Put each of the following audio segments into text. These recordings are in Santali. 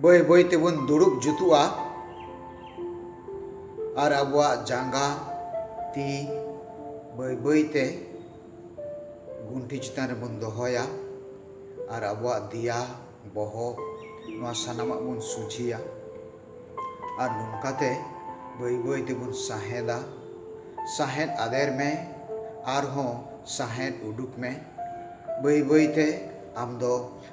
ᱵᱟᱹᱭ ᱵᱟᱹᱭ ᱛᱮᱵᱚᱱ ᱫᱩᱲᱩᱵ ᱡᱩᱛᱩᱜᱼᱟ ᱟᱨ ᱟᱵᱚᱣᱟᱜ ᱡᱟᱸᱜᱟ ᱛᱤ ᱵᱟᱹᱭ ᱵᱟᱹᱭ ᱛᱮ ᱜᱩᱱᱴᱷᱤ ᱪᱮᱛᱟᱱ ᱨᱮᱵᱚᱱ ᱫᱚᱦᱚᱭᱟ ᱟᱨ ᱟᱵᱚᱣᱟᱜ ᱫᱮᱭᱟ ᱵᱚᱦᱚᱜ ᱱᱚᱣᱟ ᱥᱟᱱᱟᱢᱟᱜ ᱵᱚᱱ ᱥᱚᱡᱷᱮᱭᱟ ᱟᱨ ᱱᱚᱝᱠᱟᱛᱮ ᱵᱟᱹᱭ ᱵᱟᱹᱭ ᱛᱮᱵᱚᱱ ᱥᱟᱦᱮᱸᱫᱟ ᱥᱟᱦᱮᱸᱫ ᱟᱫᱮᱨ ᱢᱮ ᱟᱨᱦᱚᱸ ᱥᱟᱦᱮᱸᱫ ᱩᱰᱩᱠ ᱢᱮ ᱵᱟᱹᱭ ᱵᱟᱹᱭ ᱛᱮ ᱟᱢ ᱫᱚ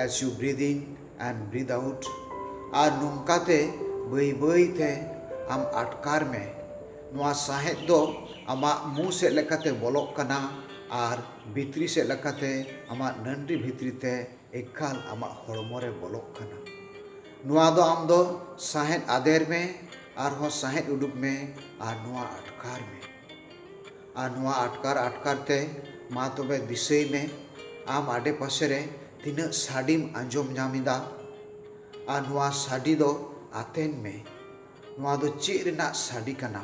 as you breathe in and breathe out ᱟᱨ ᱱᱚᱝᱠᱟ ᱛᱮ ᱵᱟᱹᱭ ᱵᱟᱹᱭ ᱛᱮ ᱟᱢ ᱟᱴᱠᱟᱨ ᱢᱮ ᱱᱚᱣᱟ ᱥᱟᱸᱦᱮᱫ ᱫᱚ ᱟᱢᱟᱜ ᱢᱩ ᱥᱮᱫ ᱞᱮᱠᱟᱛᱮ ᱵᱚᱞᱚᱜ ᱠᱟᱱᱟ ᱟᱨ ᱵᱷᱤᱛᱨᱤ ᱥᱮᱫ ᱞᱮᱠᱟᱛᱮ ᱟᱢᱟᱜ ᱱᱟᱹᱱᱰᱨᱤ ᱵᱷᱤᱛᱨᱤ ᱛᱮ ᱮᱠᱟᱞ ᱟᱢᱟᱜ ᱦᱚᱲᱢᱚ ᱨᱮ ᱵᱚᱞᱚᱜ ᱠᱟᱱᱟ ᱱᱚᱣᱟ ᱫᱚ ᱟᱢ ᱫᱚ ᱥᱟᱸᱦᱮᱫ ᱟᱫᱮᱨ ᱢᱮ ᱟᱨ ᱦᱚᱸ ᱥᱟᱸᱦᱮᱫ ᱩᱰᱩᱠ ᱢᱮ ᱟᱨ ᱱᱚᱣᱟ ᱟᱴᱠᱟᱨ ᱢᱮ᱾ ᱟᱨ ᱱᱚᱶᱟ ᱟᱴᱠᱟᱨ ᱟᱴᱠᱟᱨ ᱛᱮ ᱢᱟ ᱛᱚᱵᱮ ᱫᱤᱥᱟᱹᱭ ᱢᱮ ᱟᱢ ᱟᱰᱮ ᱯᱟᱥᱮ ᱨᱮ ᱛᱤᱱᱟᱹᱜ ᱥᱟᱰᱮᱢ ᱟᱸᱡᱚᱢ ᱧᱟᱢ ᱮᱫᱟ ᱟᱨ ᱱᱚᱶᱟ ᱥᱟᱰᱮ ᱫᱚ ᱟᱛᱮᱱ ᱢᱮ ᱱᱚᱶᱟ ᱫᱚ ᱪᱮᱫ ᱨᱮᱱᱟᱜ ᱥᱟᱰᱮ ᱠᱟᱱᱟ᱾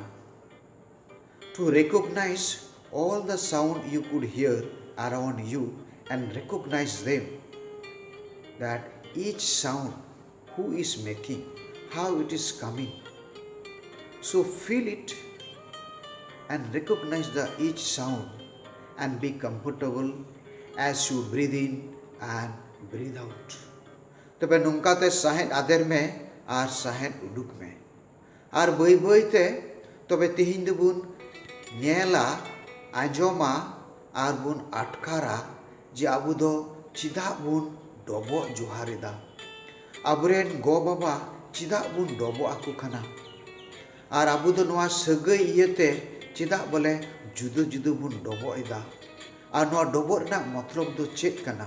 To recognise all the sound you could hear around you and recognise them that each sound who is making, how it is coming, so feel it and recognise the is sound and be comfortable as you breathe in and breathe out. ᱛᱚᱵᱮ ᱱᱚᱝᱠᱟ ᱛᱮ ᱥᱟᱸᱦᱮᱫ ᱟᱫᱮᱨ ᱢᱮ ᱟᱨ ᱥᱟᱸᱦᱮᱫ ᱩᱰᱩᱠ ᱢᱮ᱾ ᱟᱨ ᱵᱟᱹᱭ ᱵᱟᱹᱭ ᱛᱮ ᱛᱚᱵᱮ ᱛᱮᱦᱮᱧ ᱫᱚᱵᱚᱱ ᱧᱮᱞᱟ, ᱟᱸᱡᱚᱢᱟ ᱟᱨ ᱵᱚᱱ ᱟᱴᱠᱟᱨᱟ ᱡᱮ ᱟᱵᱚ ᱫᱚ ᱪᱮᱫᱟᱜ ᱵᱚᱱ ᱰᱚᱵᱚᱜ ᱡᱚᱦᱟᱨ ᱮᱫᱟ? ᱟᱵᱚ ᱨᱮᱱ ᱜᱚ ᱵᱟᱵᱟ ᱪᱮᱫᱟᱜ ᱵᱚᱱ ᱰᱚᱵᱚᱜ ᱟᱠᱚ ᱠᱟᱱᱟ? ᱟᱨ ᱟᱵᱚ ᱫᱚ ᱱᱚᱶᱟ ᱥᱟᱹᱜᱟᱹᱭ ᱤᱭᱟᱹ ᱛᱮ ᱪᱮᱫᱟᱜ ᱵᱚᱞᱮ ᱡᱩᱫᱟᱹ ᱡᱩᱫᱟᱹ ᱵᱚᱱ ᱰᱚᱵᱚᱜ ᱮᱫᱟ? ᱟᱨ ᱱᱚᱶᱟ ᱰᱚᱵᱚᱜ ᱨᱮᱱᱟᱜ ᱢᱚᱛᱞᱚᱵᱽ ᱫᱚ ᱪᱮᱫ ᱠᱟᱱᱟ?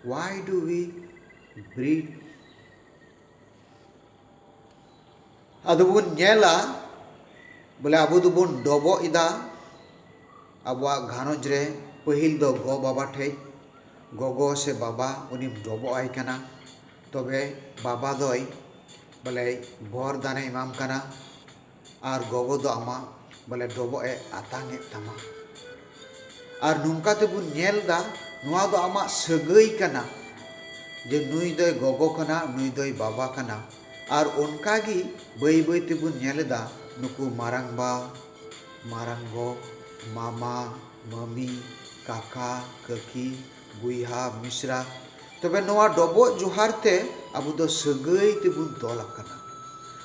ᱦᱣᱟᱭ ᱰᱩ ᱣᱤ ᱵᱨᱤᱰ ᱮᱱᱰ ᱟᱫᱚ ᱵᱚᱱ ᱧᱮᱞᱟ ᱵᱚᱞᱮ ᱟᱵᱚ ᱫᱚᱵᱚᱱ ᱰᱚᱵᱚᱜ ᱮᱫᱟ ᱟᱵᱚᱣᱟᱜ ᱜᱷᱟᱨᱚᱸᱡᱽ ᱨᱮ ᱯᱟᱹᱦᱤᱞ ᱫᱚ ᱜᱚ ᱵᱟᱵᱟ ᱴᱷᱮᱱ ᱜᱚᱜᱚ ᱥᱮ ᱵᱟᱵᱟ ᱩᱱᱤᱢ ᱰᱚᱵᱚᱜ ᱟᱭ ᱠᱟᱱᱟ ᱛᱚᱵᱮ ᱵᱟᱵᱟ ᱫᱚᱭ ᱵᱚᱞᱮ ᱵᱚᱨᱫᱟᱱᱮ ᱮᱢᱟᱢ ᱠᱟᱱᱟ ᱟᱨ ᱜᱚᱜᱚ ᱫᱚ ᱟᱢᱟᱜ ᱵᱚᱞᱮ ᱰᱚᱵᱚᱜ ᱮ ᱟᱛᱟᱝ ᱮᱫ ᱛᱟᱢᱟ᱾ ᱟᱨ ᱱᱚᱝᱠᱟ ᱛᱮᱵᱚᱱ ᱧᱮᱞ ᱮᱫᱟ ᱱᱚᱶᱟ ᱫᱚ ᱟᱢᱟᱜ ᱥᱟᱹᱜᱟᱹᱭ ᱠᱟᱱᱟ ᱡᱮ ᱱᱩᱭ ᱫᱚᱭ ᱜᱚᱜᱚ ᱠᱟᱱᱟ ᱱᱩᱭ ᱫᱚᱭ ᱵᱟᱵᱟ ᱠᱟᱱᱟ᱾ ᱟᱨ ᱚᱱᱠᱟ ᱜᱮ ᱵᱟᱹᱭ ᱵᱟᱹᱭ ᱛᱮᱵᱚᱱ ᱧᱮᱞ ᱮᱫᱟ ᱱᱩᱠᱩ ᱢᱟᱨᱟᱝᱵᱟ, ᱢᱟᱨᱟᱝᱜᱚ, ᱢᱟᱢᱟ, ᱢᱟᱹᱢᱤ, ᱠᱟᱠᱟ, ᱠᱟᱹᱠᱤ, ᱵᱚᱭᱦᱟ ᱢᱤᱥᱨᱟ ᱛᱚᱵᱮ ᱱᱚᱣᱟ ᱰᱚᱵᱚᱜ ᱡᱚᱦᱟᱨ ᱛᱮ ᱟᱵᱚ ᱫᱚ ᱥᱟᱹᱜᱟᱹᱭ ᱛᱮᱵᱚᱱ ᱛᱚᱞ ᱟᱠᱟᱱᱟ᱾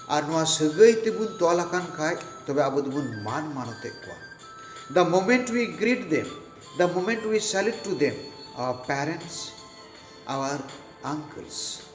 ᱟᱨ ᱱᱚᱣᱟ ᱥᱟᱹᱜᱟᱹᱭ ᱛᱮᱵᱚᱱ ᱛᱚᱞ ᱟᱠᱟᱱ ᱠᱷᱟᱡ ᱛᱚᱵᱮ ᱟᱵᱚ ᱫᱚᱵᱚᱱ ᱢᱟᱱ ᱢᱟᱱᱚᱛ ᱮᱫ ᱠᱚᱣᱟ᱾ The moment we greet them, the moment we salute to them, our parents, our uncles.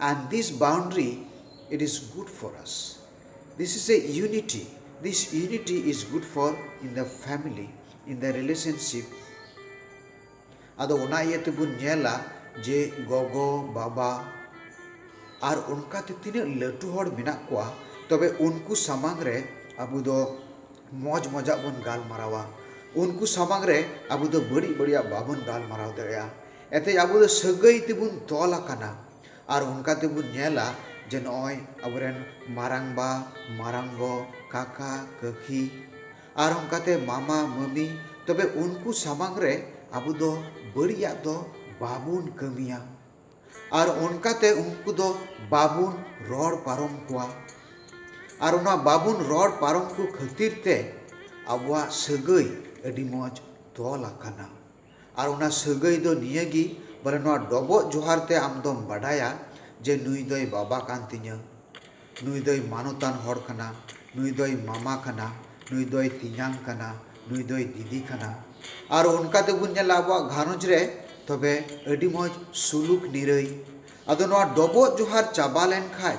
And this boundary, it is good for us. This is a unity. This unity is good for in the family, in the relationship. ᱟᱫᱚ ᱚᱱᱟ ᱤᱭᱟᱹ ᱛᱮᱵᱚᱱ ᱧᱮᱞᱟ ᱡᱮ ᱜᱚᱜᱚ ᱵᱟᱵᱟ ᱟᱨ ᱚᱱᱠᱟᱛᱮ ᱛᱤᱱᱟᱹᱜ ᱞᱟᱹᱴᱩ ᱦᱚᱲ ᱢᱮᱱᱟᱜ ᱠᱚᱣᱟ ᱛᱚᱵᱮ ᱩᱱᱠᱩ ᱥᱟᱢᱟᱝ ᱨᱮ ᱟᱵᱚ ᱫᱚ ᱢᱚᱡᱽ ᱢᱚᱡᱟᱜ ᱵᱚᱱ ᱜᱟᱞᱢᱟᱨᱟᱣᱟ ᱩᱱᱠᱩ ᱥᱟᱢᱟᱝ ᱨᱮ ᱟᱵᱚ ᱫᱚ ᱵᱟᱹᱲᱤᱡ ᱵᱟᱹᱲᱤᱡᱟᱜ ᱵᱟᱵᱚᱱ ᱜᱟᱞᱢᱟᱨᱟᱣ ᱫᱟᱲᱮᱭᱟᱜᱼᱟ ᱮᱱᱛᱮᱫ ᱟᱵᱚ ᱫᱚ ᱥᱟᱹᱜᱟᱹᱭ ᱛᱮᱵᱚᱱ ᱛᱚᱞ ᱟᱠᱟᱱᱟ ᱟᱨ ᱚᱱᱠᱟ ᱛᱮᱵᱚᱱ ᱧᱮᱞᱟ ᱡᱮ ᱱᱚᱜᱼᱚᱭ ᱟᱵᱚᱨᱮᱱ ᱢᱟᱨᱟᱝᱵᱟ ᱢᱟᱨᱟᱝ ᱜᱚ ᱠᱟᱠᱟ ᱠᱟᱹᱠᱤ ᱟᱨ ᱚᱱᱠᱟᱛᱮ ᱢᱟᱢᱟ ᱢᱟᱹᱢᱤ ᱛᱚᱵᱮ ᱩᱱᱠᱩ ᱥᱟᱢᱟᱝ ᱨᱮ ᱟᱵᱚ ᱫᱚ ᱵᱟᱹᱲᱤᱡ ᱟᱜ ᱫᱚ ᱵᱟᱵᱚᱱ ᱠᱟᱹᱢᱤᱭᱟ ᱟᱨ ᱚᱱᱠᱟᱛᱮ ᱩᱱᱠᱩ ᱫᱚ ᱵᱟᱵᱚᱱ ᱨᱚᱲ ᱯᱟᱨᱚᱢ ᱠᱚᱣᱟ ᱟᱨ ᱚᱱᱟ ᱵᱟᱵᱚᱱ ᱨᱚᱲ ᱯᱟᱨᱚᱢ ᱠᱚ ᱠᱷᱟᱹᱛᱤᱨ ᱛᱮ ᱟᱵᱚᱣᱟᱜ ᱥᱟᱹᱜᱟᱹᱭ ᱟᱹᱰᱤ ᱢᱚᱡᱽ ᱛᱚᱞ ᱟᱠᱟᱱᱟ ᱟᱨ ᱚᱱᱟ ᱥᱟᱹᱜᱟᱹᱭ ᱫᱚ ᱱᱤᱭᱟᱹ ᱜᱮ ᱵᱚᱞᱮ ᱱᱚᱣᱟ ᱰᱚᱵᱚᱜ ᱡᱚᱦᱟᱨ ᱛᱮ ᱟᱢ ᱫᱚᱢ ᱵᱟᱰᱟᱭᱟ ᱡᱮ ᱱᱩᱭ ᱫᱚᱭ ᱵᱟᱵᱟ ᱠᱟᱱ ᱛᱤᱧᱟᱹ, ᱱᱩᱭ ᱫᱚᱭ ᱢᱟᱱᱚᱛᱟᱱ ᱦᱚᱲ ᱠᱟᱱᱟ, ᱱᱩᱭ ᱫᱚᱭ ᱢᱟᱢᱟ ᱠᱟᱱᱟ, ᱱᱩᱭ ᱫᱚᱭ ᱛᱮᱧᱟᱝ ᱠᱟᱱᱟ, ᱱᱩᱭ ᱫᱚᱭ ᱫᱤᱫᱤ ᱠᱟᱱᱟ᱾ ᱟᱨ ᱚᱱᱠᱟ ᱛᱮ ᱵᱚᱱ ᱧᱮᱞᱟ ᱟᱵᱚᱣᱟᱜ ᱜᱷᱟᱨᱚᱸᱡᱽ ᱨᱮ ᱛᱚᱵᱮ ᱟᱹᱰᱤ ᱢᱚᱡᱽ ᱥᱩᱞᱩᱠ ᱱᱤᱨᱟᱹᱭ᱾ ᱟᱫᱚ ᱱᱚᱣᱟ ᱰᱚᱵᱚᱜ ᱡᱚᱦᱟᱨ ᱪᱟᱵᱟ ᱞᱮᱱ ᱠᱷᱟᱡ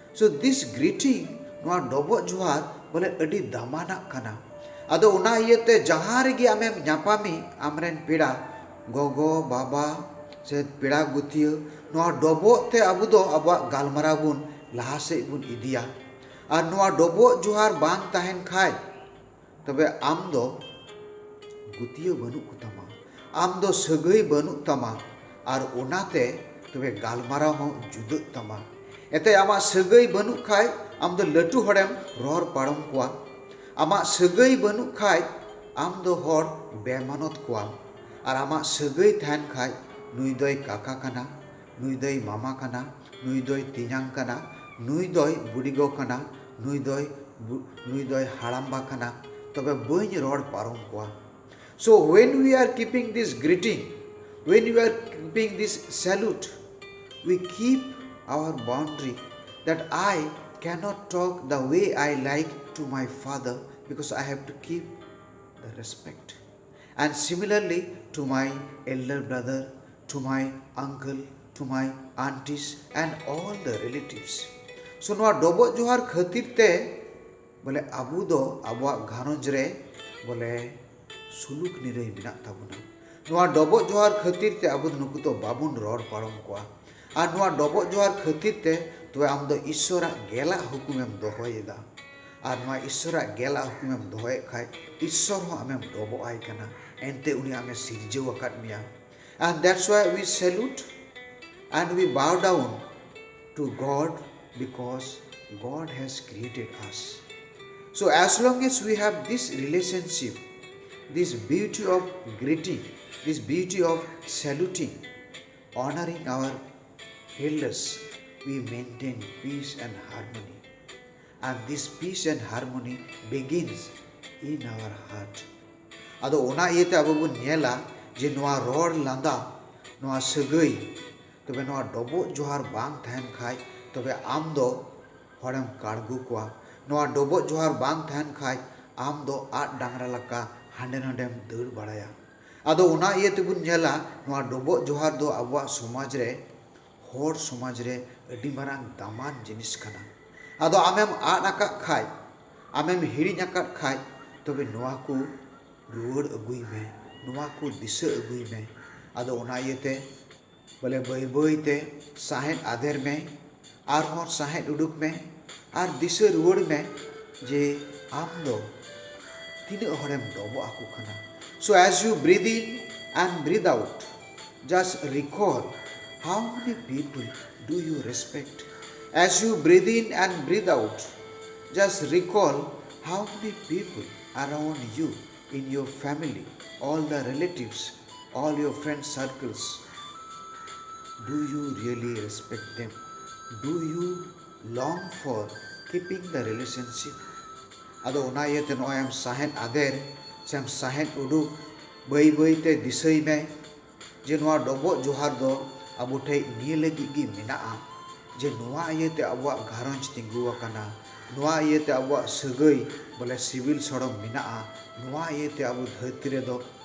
ᱥᱳ ᱫᱤᱥ ᱜᱨᱤᱴᱤᱝ ᱱᱚᱣᱟ ᱰᱚᱵᱚᱜ ᱡᱚᱦᱟᱨ ᱵᱚᱞᱮ ᱟᱹᱰᱤ ᱫᱟᱢᱟᱱᱟᱜ ᱠᱟᱱᱟ᱾ ᱟᱫᱚ ᱚᱱᱟ ᱤᱭᱟᱹ ᱛᱮ ᱡᱟᱦᱟᱸ ᱨᱮᱜᱮ ᱟᱢᱮᱢ ᱧᱟᱯᱟᱢᱤᱡ ᱟᱢ ᱨᱮᱱ ᱯᱮᱲᱟ ᱜᱚᱜᱚ, ᱵᱟᱵᱟ ᱥᱮ ᱯᱮᱲᱟ ᱜᱩᱛᱤᱭᱟᱹ ᱱᱚᱣᱟ ᱰᱚᱵᱚᱜ ᱛᱮ ᱟᱵᱚ ᱫᱚ ᱟᱵᱚᱣᱟᱜ ᱜᱟᱞᱢᱟᱨᱟᱣ ᱵᱚᱱ ᱞᱟᱦᱟ ᱥᱮᱫ ᱵᱚᱱ ᱤᱫᱤᱭᱟ᱾ ᱟᱨ ᱱᱚᱣᱟ ᱰᱚᱵᱚᱜ ᱡᱚᱦᱟᱨ ᱵᱟᱝ ᱛᱟᱦᱮᱸᱱ ᱠᱷᱟᱡ ᱛᱚᱵᱮ ᱟᱢ ᱫᱚ ᱜᱩᱛᱤᱭᱟᱹ ᱵᱟᱹᱱᱩᱜ ᱠᱚ ᱛᱟᱢᱟ, ᱟᱢ ᱫᱚ ᱥᱟᱹᱜᱟᱹᱭ ᱵᱟᱹᱱᱩᱜ ᱛᱟᱢᱟ ᱟᱨ ᱚᱱᱟ ᱛᱮ ᱛᱚᱵᱮ ᱜᱟᱞᱢᱟᱨᱟᱣ ᱦᱚᱸ ᱡᱩᱫᱟᱹᱜ ᱛᱟᱢᱟ᱾ ᱮᱱᱛᱮᱫ ᱟᱢᱟᱜ ᱥᱟᱹᱜᱟᱹᱭ ᱵᱟᱹᱱᱩᱜ ᱠᱷᱟᱡ ᱟᱢ ᱫᱚ ᱞᱟᱹᱴᱩ ᱦᱚᱲᱮᱢ ᱨᱚᱲ ᱯᱟᱨᱚᱢ ᱠᱚᱣᱟ᱾ ᱟᱢᱟᱜ ᱥᱟᱹᱜᱟᱹᱭ ᱵᱟᱹᱱᱩᱜ ᱠᱷᱟᱡ ᱟᱢ ᱫᱚ ᱦᱚᱲ ᱵᱮᱢᱟᱱᱚᱛ ᱠᱚᱣᱟᱢ᱾ ᱟᱨ ᱟᱢᱟᱜ ᱥᱟᱹᱜᱟᱹᱭ ᱛᱟᱦᱮᱸᱱ ᱠᱷᱟᱡ ᱱᱩᱭ ᱫᱚᱭ ᱠᱟᱠᱟ ᱠᱟᱱᱟ, ᱱᱩᱭ ᱫᱚᱭ ᱢᱟᱢᱟ ᱠᱟᱱᱟ, ᱱᱩᱭ ᱫᱚᱭ ᱛᱮᱧᱟᱝ ᱠᱟᱱᱟ, ᱱᱩᱭ ᱫᱚᱭ ᱵᱩᱰᱤᱜᱚ ᱠᱟᱱᱟ, ᱱᱩᱭ ᱫᱚᱭ ᱱᱩᱭ ᱫᱚᱭ ᱦᱟᱲᱟᱢᱵᱟ ᱠᱟᱱᱟ, ᱛᱚᱵᱮ ᱵᱟᱹᱧ ᱨᱚᱲ ᱯᱟᱨᱚᱢ ᱠᱚᱣᱟ᱾ ᱥᱳ ᱦᱩᱭᱮᱱ ᱩᱭ ᱟᱨ ᱠᱤᱯᱤᱝ ᱫᱤᱥ ᱜᱨᱤᱴᱤᱝ, ᱦᱩᱭᱮᱱ ᱩᱭ are keeping this salute, we keep our boundary that I cannot talk the way I like to my father because I have to keep the respect. And similarly to my elder brother, to my uncle, to my aunties and all the relatives. So ᱱᱚᱣᱟ ᱰᱚᱵᱚᱜ ᱡᱚᱦᱟᱨ ᱠᱷᱟᱹᱛᱤᱨ ᱛᱮ ᱵᱚᱞᱮ ᱟᱵᱚ ᱫᱚ ᱟᱵᱚᱣᱟᱜ ᱜᱷᱟᱨᱚᱸᱡᱽ ᱨᱮ ᱵᱚᱞᱮ ᱥᱩᱞᱩᱠ ᱱᱤᱨᱟᱹᱭ ᱢᱮᱱᱟᱜ ᱛᱟᱵᱚᱱᱟ ᱱᱚᱣᱟ ᱰᱚᱵᱚᱜ ᱡᱚᱦᱟᱨ ᱠᱷᱟᱹᱛᱤᱨ ᱛᱮ ᱟᱵᱚ ᱫᱚ ᱱᱩᱠᱩ ᱫᱚ ᱵᱟᱵᱚᱱ ᱨᱚᱲ ᱯᱟᱨᱚᱢ ᱠᱚᱣᱟ ᱟᱨ ᱱᱚᱣᱟ ᱰᱚᱵᱚᱜ ᱡᱚᱦᱟᱨ ᱠᱷᱟᱹᱛᱤᱨ ᱛᱮ ᱛᱚᱵᱮ ᱟᱢ ᱫᱚ ᱤᱥᱥᱚᱨ ᱟᱜ ᱜᱮᱞ ᱟᱜ ᱦᱩᱠᱩᱢ ᱮᱢ ᱫᱚᱦᱚᱭ ᱮᱫᱟ ᱟᱨ ᱱᱚᱣᱟ ᱤᱥᱥᱚᱨ ᱟᱜ ᱜᱮᱞ ᱟᱜ ᱦᱩᱠᱩᱢ ᱮᱢ ᱫᱚᱦᱚᱭᱮᱫ ᱠᱷᱟᱱ ᱤᱥᱥᱚᱨ ᱦᱚᱸ ᱟᱢᱮᱢ ᱰᱚᱵᱚᱜ ᱟᱭ ᱠᱟᱱᱟ ᱮᱱᱛᱮ ᱩᱱᱤ ᱟᱢᱮ ᱥᱤᱨᱡᱟᱹᱣ ᱟᱠᱟᱫ ᱢᱮᱭᱟ ᱟᱨ ᱫᱮᱴᱥ ᱣᱟᱭ ᱩᱭ ᱥᱮᱞᱩᱴ ᱟᱨ we bow down to God because ᱜᱚᱰ ᱦᱮᱡ ᱠᱨᱤᱭᱮᱴᱮᱰ ᱟᱥ ᱥᱳ ᱮᱡ ᱞᱚᱝ ᱮᱡ ᱩᱭ ᱦᱮᱵ this relationship this beauty of greeting this beauty of saluting honouring our elders we maintain peace and harmony and this peace and harmony begins in our heart ᱟᱫᱚ ᱚᱱᱟ ᱤᱭᱟᱹᱛᱮ ᱟᱵᱚ ᱵᱚᱱ ᱧᱮᱞᱟ ᱡᱮ ᱱᱚᱣᱟ ᱨᱚᱲ ᱞᱟᱸᱫᱟ ᱱᱚᱣᱟ ᱥᱟᱹᱜᱟᱹᱭ ᱛᱚᱵᱮ ᱱᱚᱣᱟ ᱰᱚᱵᱚᱜ ᱡᱚᱦᱟᱨ ᱵᱟᱝ ᱛᱟᱦᱮᱱ ᱠᱷᱟᱱ ᱛᱚᱵᱮ ᱟᱢ ᱫᱚ ᱦᱚᱲᱮᱢ ᱠᱟᱬᱜᱚ ᱠᱚᱣᱟ ᱱᱚᱣᱟ ᱰᱚᱵᱚᱜ ᱡᱚᱦᱟᱨ ᱵᱟᱝ ᱛᱟᱦᱮᱱ ᱠᱷᱟᱱ ᱟᱢ ᱫᱚ ᱟᱫ ᱰᱟᱝᱨᱟ ᱞᱮᱠᱟ ᱦᱟᱸᱰᱮ ᱱᱟᱸᱰᱮᱢ ᱫᱟᱹᱲ ᱵᱟᱲᱟᱭᱟ ᱟᱫᱚ ᱚᱱᱟ ᱤᱭᱟᱹ ᱛᱮᱵᱚᱱ ᱧᱮᱞᱟ ᱱᱚᱣᱟ ᱰᱚᱵᱚᱜ ᱡᱚᱦᱟᱨ ᱫᱚ ᱟᱵᱚᱣᱟᱜ ᱥᱚᱢᱟᱡᱽ ᱨᱮ ᱦᱚᱲ ᱥᱚᱢᱟᱡᱽ ᱨᱮ ᱟᱹᱰᱤ ᱢᱟᱨᱟᱝ ᱫᱟᱢᱟᱱ ᱡᱤᱱᱤᱥ ᱠᱟᱱᱟ᱾ ᱟᱫᱚ ᱟᱢᱮᱢ ᱟᱫ ᱟᱠᱟᱫ ᱠᱷᱟᱡ, ᱟᱢᱮᱢ ᱦᱤᱲᱤᱧ ᱟᱠᱟᱫ ᱠᱷᱟᱡ ᱛᱚᱵᱮ ᱱᱚᱣᱟ ᱠᱚ ᱨᱩᱣᱟᱹᱲ ᱟᱹᱜᱩᱭ ᱢᱮ, ᱱᱚᱣᱟ ᱠᱚ ᱫᱤᱥᱟᱹ ᱟᱹᱜᱩᱭ ᱢᱮ᱾ ᱟᱫᱚ ᱚᱱᱟ ᱤᱭᱟᱹ ᱛᱮ ᱵᱚᱞᱮ ᱵᱟᱹᱭ ᱵᱟᱹᱭ ᱛᱮ ᱥᱟᱦᱮᱸᱫ ᱟᱫᱮᱨ ᱢᱮ ᱟᱨ ᱦᱚᱸ ᱥᱟᱦᱮᱸᱫ ᱩᱰᱩᱠ ᱢᱮ ᱟᱨ ᱫᱤᱥᱟᱹ ᱨᱩᱣᱟᱹᱲ ᱢᱮ ᱡᱮ ᱟᱢ ᱫᱚ ᱛᱤᱱᱟᱹᱜ ᱦᱚᱲᱮᱢ ᱰᱚᱵᱚᱜ ᱟᱠᱚ ᱠᱟᱱᱟ so as you breathe in and breathe out just recall how many people do you respect as you breathe in and breathe out just recall how many people around you in your family all the relatives All your friend circles, do you really respect them? Do you long for keeping the relationship? ᱟᱫᱚ ᱚᱱᱟ ᱤᱭᱟᱹᱛᱮ ᱱᱚᱜᱼᱚᱭ ᱟᱢ ᱥᱟᱦᱮᱫ ᱟᱫᱮᱨ ᱥᱮ ᱟᱢ ᱥᱟᱦᱮᱫ ᱩᱰᱩᱠ ᱵᱟᱹᱭ ᱵᱟᱹᱭᱛᱮ ᱫᱤᱥᱟᱹᱭ ᱢᱮ ᱡᱮ ᱱᱚᱣᱟ ᱰᱚᱵᱚᱜ ᱡᱚᱦᱟᱨ ᱫᱚ ᱟᱵᱚ ᱴᱷᱮᱡ ᱱᱤᱭᱟᱹ ᱞᱟᱹᱜᱤᱫ ᱜᱮ ᱢᱮᱱᱟᱜᱼᱟ ᱡᱮ ᱱᱚᱣᱟ ᱤᱭᱟᱹᱛᱮ ᱟᱵᱚᱣᱟᱜ ᱜᱷᱟᱨᱚᱸᱡᱽ ᱛᱤᱸᱜᱩ ᱟᱠᱟᱱᱟ ᱱᱚᱣᱟ ᱤᱭᱟᱹᱛᱮ ᱟᱵᱚᱣᱟᱜ ᱥᱟᱹᱜᱟᱹᱭ ᱵᱚᱞᱮ ᱥᱤᱵᱤᱞ ᱥᱚᱲᱚᱢ ᱢᱮᱱᱟᱜᱼᱟ ᱱᱚᱣᱟ ᱤᱭᱟᱹᱛᱮ ᱟᱵᱚ ᱫᱷᱟᱹᱨᱛᱤ ᱨᱮᱫᱚ